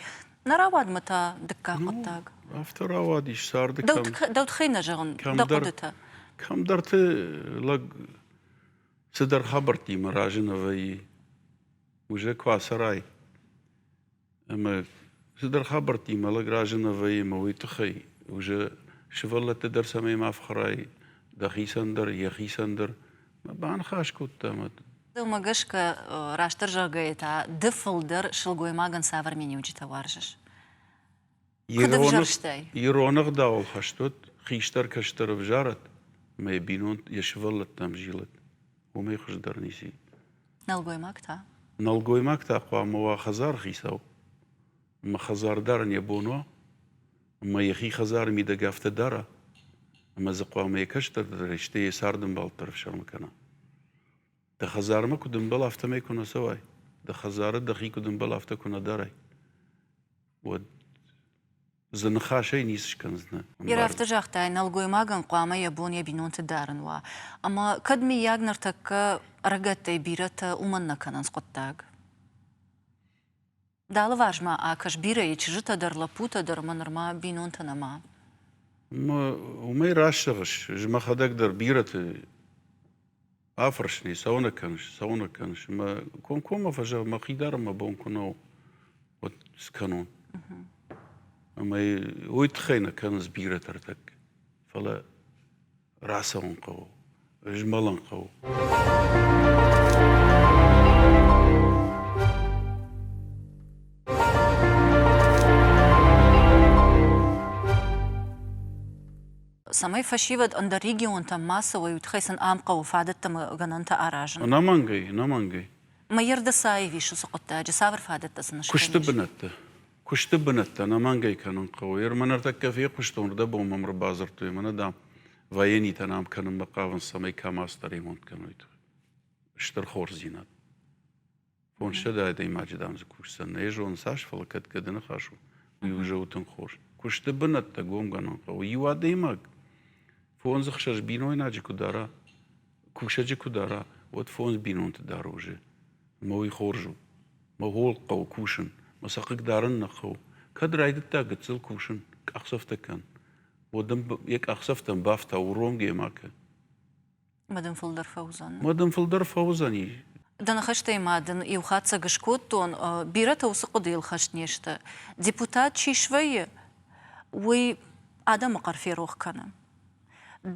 нӕ рауадмӕ та дыккаг ну, хъуыддаг. Афтӕ рауадис царды кӕм Дӕу тыххӕй нӕ зӕгъын, дӕ хъуыдытӕ. Кӕмдӕрты лӕг цыдӕр хабӕрттимӕ разыны вӕййы. Уже куы ацӕрай, Ӕмӕ цыдӕр хабӕрттимӕ лӕг разына вӕййы ӕмӕ уый тыххӕй уже сывӕллӕтты дӕр цӕмӕй ма фхӕрай дӕхицӕн дӕр, йӕхицӕн дӕр. Баныхас кодта мӕ Дӕумӕ гӕсгӕ, растдӕр зӕгъгӕйӕ та ды фылдӕр сылгоймагӕн цавӕр миниуджытӕ уарзыс? Ироны гъдауыл хӕст уыд, хистӕр кӕстӕр ӕвзарӕд, ӕмӕ йӕ бинонт йӕ сывӕллӕттӕм зилыд. Уымӕй хуыздӕр ницы. Нӕлгоймаг та? Нӕлгоймаг та хъуамӕ уа хӕдзархицау. Ӕмӕ хӕдзар дарын йӕ бон уа, ӕмӕ йӕхи хӕдзары мидӕг афтӕ дара, ӕмӕ дзы хъуамӕ йӕ кӕстӕрдӕрӕй, стӕй йӕ цардӕмбал дӕр ӕфсӕрмы кӕна. Дӕ хӕдзармӕ куыд ӕмбал, афтӕмӕй куы нӕ цӕуай. Дӕ хӕдзары дӕхи куыд ӕмбал, афтӕ куы нӕ дарай. уӕд дзы ныхасӕй ницы скӕндзынӕ. Йе афтӕ загътай, нӕлгоймагӕн хъуамӕ йӕ бон йӕ бинонты дарын уа. Ӕмӕ кӕд, мыййаг, ныртӕккӕ ӕрыгӕттӕй бирӕтӕ уымӕн нӕ кӕнынц хъуыддаг? Дӕ алыварс-ма акӕс, бирӕйы чызджытӕ дӕр, лӕппутӕ дӕр ӕмӕ нырма бинонтӕ нӕма. Уымӕй раст зӕгъыс. Ӕз мӕхӕдӕг дӕр бирӕты Афӕрсын, цӕуын кӕныс, цӕуын кӕныс. Мӕ комкоммӕ фӕзӕгъ, мӕхи дӕр мӕ бон куы нӕу уӕд скӕнон. Ӕмӕ уый тыххӕй нӕ кӕнынц бирӕтӕ ӕртӕг. Фӕлӕ рацӕуын хъӕуы, змӕлын хъӕуы. цӕмӕй фӕсивӕд ӕндӕр регионтӕм ма цӕуой, уый тыххӕй сын ам хъӕуы фадӕттӕ гӕнӕнтӕ аразын. Ӕнӕмӕнгӕй, ӕнӕмӕнгӕй. Мӕирды цаив ис уыцы хъуыддаджы, цавӕр фадӕттӕ сын сты? Куысты бынӕтты. Куысты бынӕтты ӕнӕмӕнгӕй кӕнын хъӕуы. Ӕрмӕ ныртӕккӕ фехъуыстон, уырдӕбон мӕм ӕрбадзырдтой ӕмӕ нӕ, дам, военитӕ нӕм кӕнынмӕ хъавынц, цӕмӕй камаз дӕр ремонт кӕной. Стыр хорздзинад. Фондзсӕдӕ адӕймаджы, дам, дзы кусдзӕн. Нӕ зонын, цас, фӕлӕ кӕд гӕды ныхас у, уый у зӕгъы тынг хорз. Куысты бынӕттӕ гомгӕнӕн хъӕуы. Иу адӕймаг фондз ӕхсӕз бинойнаджы куы дара, кусӕджы куы дара, уӕд фондз бинонты дӕр уызы. Мӕ уый хорз у. Мӕ хол хъӕуы кусын. Мӕ сӕ хъыг дарын нӕ хъӕуы. Кӕд райдыдта гыццыл кусын, къахдзӕфтӕ кӕн. Уӕд ын йӕ къахдзӕфтӕн бафта уромгӕ макӕ. Мад ын фылдӕр фӕуыдзӕн. Мад ын фылдӕр фӕуыдзӕни. Дӕ ныхӕстӕй ма дын иу хатдзӕг скодтон, бирӕтӕ уыцы хъуыдыйыл хӕст не сты. Депутат чи свӕййы, уый адӕмы хъӕр ферох кӕны.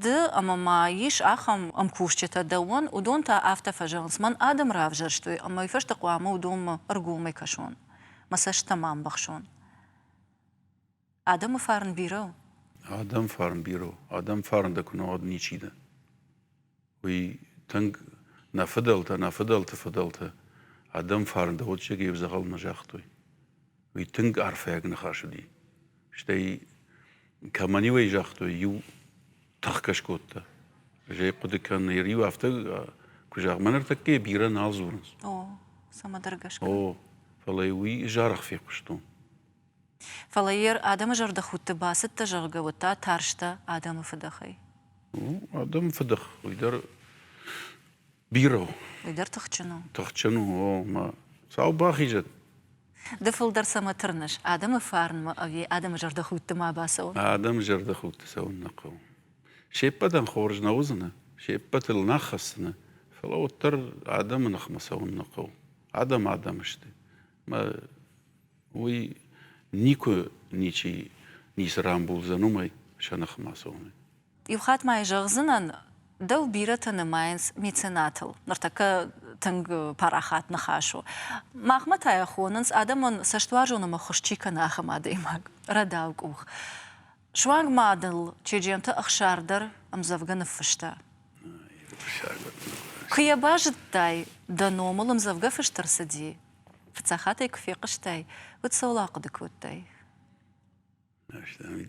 Ды ӕмӕ ма ис ахӕм ӕмкусджытӕ дӕуӕн, уыдон та афтӕ фӕзӕгъынц, мӕн адӕм равзӕрстой, ӕмӕ уый фӕстӕ хъуамӕ уыдонмӕ ӕргомӕй кӕсон, мӕ цӕстытӕ ма ӕмбӕхсон. Адӕмы фарн бирӕ у? Адӕмы фарн бирӕ у. Адӕмы фарн дӕ куы нӕ уӕд ничи дӕ. Уый тынг нӕ фыдӕлтӕ, нӕ фыдӕлты фыдӕлтӕ адӕмы фарн дӕ удсӕгӕй ӕвзӕгъӕл нӕ загътой. Уый тынг арфӕйаг ныхас уыди. Стӕй, кӕмӕн-иу ӕй загътой, иу тыхкӕ скодта. Зӕй хъуыды кӕн, ныр иу афтӕ, куы зӕгъ, мӕ ныртӕккӕ бирӕ нал дзурынц. О, цӕмӕдӕр гӕсгӕ. О, фӕлӕ уый зӕрх фехъуыстон. Фӕлӕ йӕ адӕмы зӕрдӕхудты бацыдтӕ, зӕгъгӕ, уӕд та тарстӕ адӕмы фыдӕхӕй. Адӕмы фыдых уый дӕр бирӕ у. Уый дӕр тыхджын у. Тыхджын у, о, мӕ сау бахизӕд. Ды фылдӕр цӕмӕ тырныс адӕмы фарнмӕ ӕви адӕмы зӕрдӕхудты ма бацӕуын? Адӕмы зӕрдӕхудты цӕуын нӕ хъӕуы. Се ппӕтӕн хорз нӕ уыдзынӕ, се ппӕтыл нӕ хӕцдзынӕ, фӕлӕ уӕддӕр адӕмы ныхмӕ цӕуын нӕ хъӕуы. Адӕм адӕм сты. Мӕ уый никуы ничи ницы рамбулдзӕн уымӕй сӕ ныхмӕ цомын. Иу хатт ма зӕгъдзынӕн, дӕу бирӕтӕ нымайынц меценатыл. Ныртӕккӕ тынг парахат ныхас у. Махмӕ та йӕ хонынц, адӕмон цӕстуарзон ӕмӕ хуыз чи кӕны, ахӕм адӕймаг, рӕдау къух. Суанг ма дыл Чеджемты Ӕхсар дӕр ӕмдзӕвгӕ ныффыста. Куы йӕ базыдтай, дӕ номыл ӕмдзӕвгӕ фыст ӕрцыди, Фыццахатӕй куы фехъуыстай, уӕд цӕуыл ахъуыды кодтай?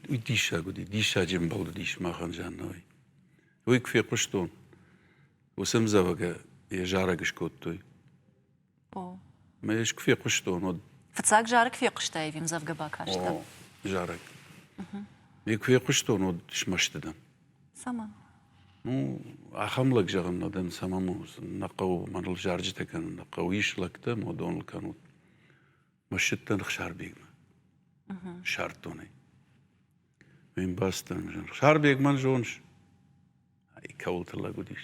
Уый диссаг уыди, диссаджы ӕмбал уыдис махӕн Жаннӕйы. Уый куы фехъуыстон, уыцы ӕмдзӕвгӕ йӕ зарӕг скодтой. О. Мӕ ӕз куы фехъуыстон, уӕд... Фыццаг зарӕг фехъуыстай ӕви ӕмдзӕвгӕ бакастӕ? О, зарӕг. Ме куы фехъуыстон, уӕд смӕсты дӕн. Цӕмӕ? Ну, ахӕм лӕг зӕгъын нӕ дӕн, цӕмӕн нӕ хъӕуы, мӕныл зарджытӕ кӕнын нӕ хъӕуы. Ис лӕгтӕ, модон ыл кӕнут. Мӕсчыдтӕн Хсарбегмӕ. Сӕрддонӕй. Ме мбӕстӕн Хсарбег мӕн зоныс? Ай кӕуылты лӕг уыдис.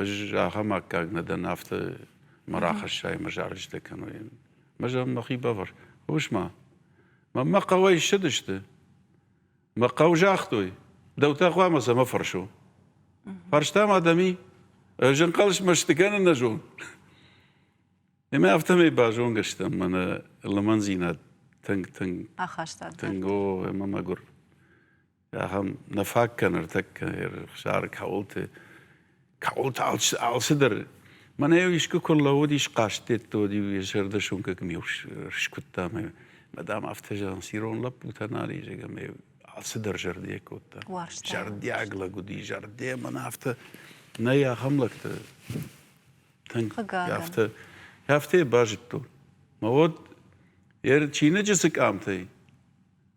Ӕз ахӕм аккаг нӕ дӕн, афтӕ мӕ рахӕссай, мӕ зарджытӕ кӕной. Мӕ зӕгъын мӕхи бавӕр. Хъус-ма, мӕ хъӕуӕй ссыдысты. Мӕ хъӕу загътой, дӕу та хъуамӕ цӕмӕ фӕрсо. Фарстам адӕми, ӕз ӕнхъӕлсмӕ сты кӕнӕ нӕ зон. Ӕмӕ афтӕмӕй базонгӕ стӕм мӕнӕ лымӕндзинад тынг, тынг ахастад. Тынг, о, ӕмӕ мӕгуыр. ахӕм нӕ фаг кӕны ӕртӕккӕ ӕрхсары кӕуылты кӕуылты алчи алцыдӕр мӕнӕ-иу искуы куы рлӕууыдис хъазт дедтод-иу йӕ зӕрдӕ суынкӕ кӕм-иу скуыдта ӕмӕ мадам афтӕ зӕгъынц ирон лӕппутӕ нал изӕг ӕмӕ алцыдӕр зӕрдийӕ кодта уарзта зӕрдиаг лӕг уыди зӕрдийӕ мӕнӕ афтӕ нӕй ахӕм лӕгтӕ тынг афтӕ афтӕ базыдтон мӕ уод йӕ чиныджы цы къамтӕй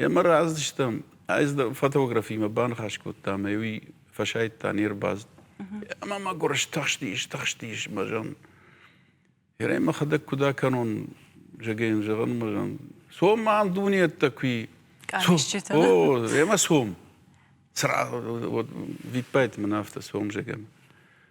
Йӕ мӕ раздыстам, ӕз фотографимӕ баныхас кодтам, ӕй уый фӕсайдта не рбацыд. Ӕмӕ мӕ гуырыс тыхстис, тыхстис мӕ зӕн. Ерӕй мӕхӕдӕг куыд акӕнон, зӕгӕн, зӕгъын мӕ зӕн. Цом мӕн дунеттӕ куи. Къамисджытӕ? О, емӕ цом. Сразу вот виппайт мын афтӕ цом зӕгӕн.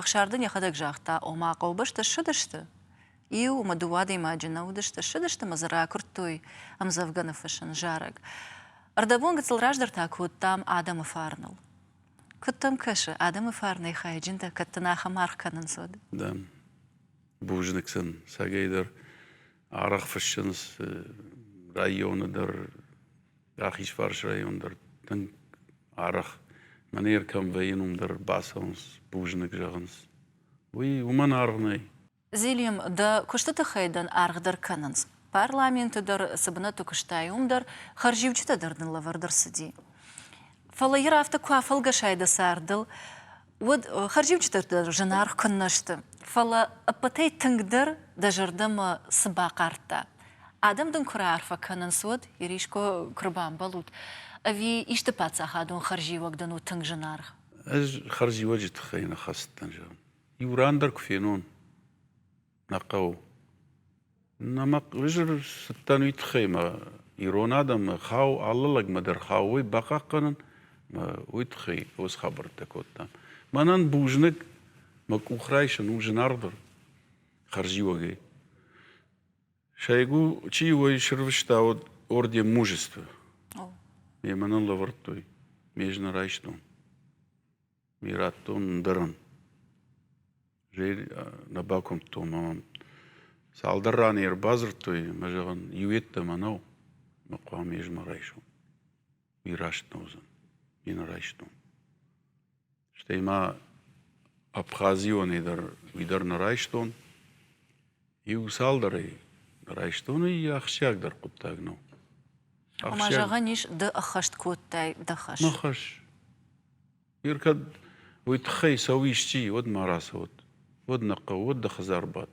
Ӕхсар дын йӕхӕдӕг загъта, ома хъӕубӕстӕ ссыдысты. Иу ӕмӕ дыууӕ адӕймаджы нӕ уыдысты, ссыдысты ӕмӕ дзы ракуырдтой ӕмдзӕвгӕ ныффыссын зарӕг. Ӕрдӕбон гыццыл раздӕр та кодтам адӕмы фарныл. Куыд дӕм кӕсы, адӕмы фарнӕй хайджындӕр кӕд дын ахӕм аргъ кӕнынц, уӕд? Да. Бузныг сын сагӕйдӕр. Аргъ фыссынц районы дӕр, Рахизфарсы район дӕр тынг арӕх, мӕнӕ ӕркӕм вӕййын, уым дӕр бацӕуынц, бузныг зӕгъынц. Уый уымӕн аргъ нӕй. Зелим, дӕ куысты тыххӕй дын аргъдӕр кӕнынц. Парламенты дӕр, цы бынӕтты куыстай, уым дӕр хӕрзиуджытӕ дӕр дын лӕвӕрд ӕрцыди. Фӕлӕ йыр афтӕ куы афӕлгӕсай дӕ цардыл, уӕд хӕрзиуджытӕ зынаргъ куыннӕ сты. Фӕлӕ ӕппӕтӕй тынгдӕр дӕ зӕрдӕмӕ цы бахъардта? Адӕм дын куы раарфӕ кӕнынц, уӕд, Ириско, куы рбамбӕлут, ӕви исты паддзахадон хӕрзиуӕг дын у тынг зынаргъ? Ӕз хӕрзиуӕджы тыххӕй нӕ хӕст дӕн зӕгъын. Иу ран дӕр куы фенон. Нӕ хъӕуы. Нӕ мӕ ӕвзӕр цыдтӕн уый тыххӕй мӕ ирон адӕмы хау, алы лӕгмӕ дӕр хау уый бахъахъхъӕнын, мӕ уый тыххӕй хорз хабӕрттӕ кодтам. Мӕнӕн бузныг мӕ къух райсын у зынаргъдӕр хӕрзиуӕгӕй. Сӕйгу, чи уой срывыстӕуыд орден мужества. О. Ме мӕ нын лӕвӕрдтой, ме ӕз нӕ райстон. Ми радтон ӕндӕрӕн. Жей нӕ бакуымдтон ӕмӕ мӕм цалдӕр раны йе рбадзырдтой ӕмӕ зӕгъын, иуйеддӕмӕ нӕу, ӕмӕ хъуамӕ ӕз ма райсом. Ми раст нӕ уыдзӕн. Ми нӕ райстон. Стӕй ма Абхазионӕй дӕр уый дӕр нӕ райстон. Иу-цалдӕрӕй райстоны ахсджиагдӕр хъуыддаг нӕу. Ӕмӕ зӕгъӕн ис, ды ӕххӕст кодтай дӕ хӕс. Мӕ хӕс. Ир кӕд уый тыххӕй цӕуы исчи, уӕд ма рацӕут. Уӕд нӕ хъӕу, уӕд дӕ хӕдзар бад.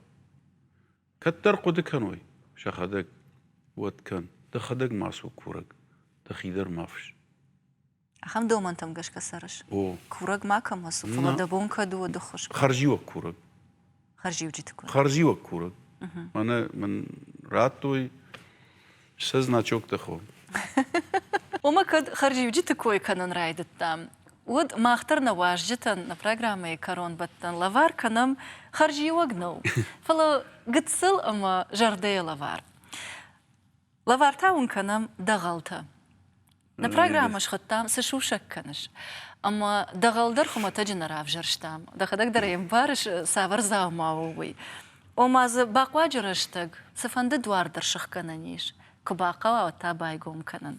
Кӕддӕр хъуыды кӕной, сӕхӕдӕг уӕд кӕн. Дӕхӕдӕг ма цу курӕг, дӕхи дӕр ма фысс. Ахӕм домӕнтӕм гӕсгӕ цӕрыс? О. Курӕг макӕмӕ цу, фӕлӕ дӕ бон кӕд у уӕды хуыз? Хӕрзиуӕг курӕг. Хӕрзиуджыты курӕг. Хӕрзиуӕг курӕг. Мӕнӕ мын радтой сӕ значоктӕ хо. Омӕ кӕд хӕрзиуджыты кой кӕнын райдыдтам, уӕд мах дӕр нӕ уазджытӕн, нӕ программӕйы кӕронбӕттӕн лӕвар кӕнӕм хӕрзиуӕг нӕу, фӕлӕ гыццыл ӕмӕ зӕрдӕйы лӕвар. Лӕвар та уын кӕнӕм дӕгъӕлтӕ. Нӕ программӕ схуыдтам Цы сусӕг кӕныс? Ӕмӕ дӕгъӕл дӕр хуымӕтӕджы нӕ равзӕрстам. Дӕхӕдӕг дӕр ӕй ӕмбарыс, цавӕр дзаума у, уый. Ома дзы бахъуаджы рӕстӕг цыфӕнды дуар дӕр сыхгӕнӕн ис, куы бахъӕуа, уӕд та байгом кӕнын.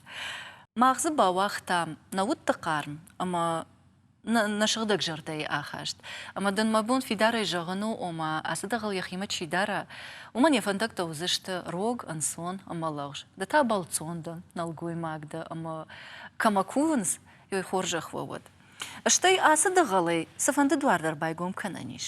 Мах дзы бауагътам нӕ удты хъарм ӕмӕ Нӕ сыгъдӕг зӕрдӕйы ахаст. Ӕмӕ дын мӕ бон фидарӕй зӕгъын у, ома, ацы дӕгъӕл йӕхимӕ чи дара, уымӕн йӕ фӕндӕгтӕ уыдзысты рог, ӕнцон ӕмӕ лӕгъз. Ды та бӕлццон дӕн, нӕлгоймаг дӕ ӕмӕ, кӕмӕ кувынц, уый хорзӕх уӕ уӕд. Стӕй ацы дӕгъӕлӕй цыфӕнды дуар дӕр байгом кӕнӕн ис.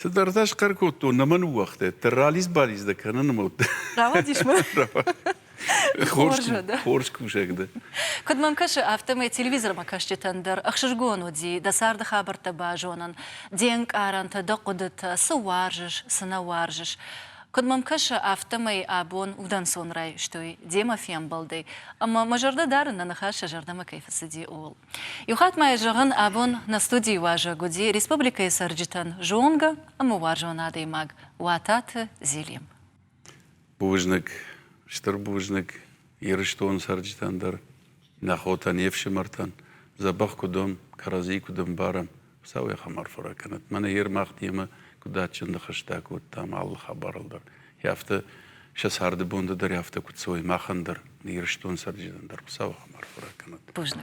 Цыдӕртӕ схъӕр кодтон, нӕ мӕ ныууагътай, дӕ ралидз-балидз дӕ кӕнын мӕ уӕд. Рауадис мӕ? Хорз, хорз кусӕг дӕ. Куыд мӕм кӕсы, афтӕмӕй телевизормӕ кӕсджытӕн дӕр ӕхсызгон уыди дӕ царды хабӕрттӕ базонын, де нкъарӕнтӕ, дӕ хъуыдытӕ, цы уарзыс, цы нӕ уарзыс. Куыд мӕм кӕсы, афтӕмӕй абон удӕнцон райстой демӕ фембӕлдӕй, ӕмӕ мӕ зӕрдӕ дарын, нӕ ныхас сӕ зӕрдӕмӕ кӕй фӕцыди, ууыл. Иу хатт ма йӕ зӕгъын, абон нӕ студийы уазӕг уыди республикӕйы цӕрджытӕн зонгӕ ӕмӕ уарзон адӕймаг Уататы Зелим. Бузныг, стыр бузныг Ирыстоны цӕрджытӕн дӕр, нӕ хотӕн, не фсымӕртӕн, дзӕбӕх куыд уӕм, кӕрӕдзи куыд ӕмбарӕм, Хуыцау йӕ хабар фӕраг кӕнӕд. Мӕнӕ Ермах темӕ куыд адджынды хӕстӕ кодтам алы хабарыл дӕр. Йӕ афтӕ сӕ царды бонды дӕр афтӕ куыд цӕуой махӕн дӕр, Ирыстон цӕрджытӕн дӕр Хуыцауы хабар фӕраг кӕнӕд. Поздно.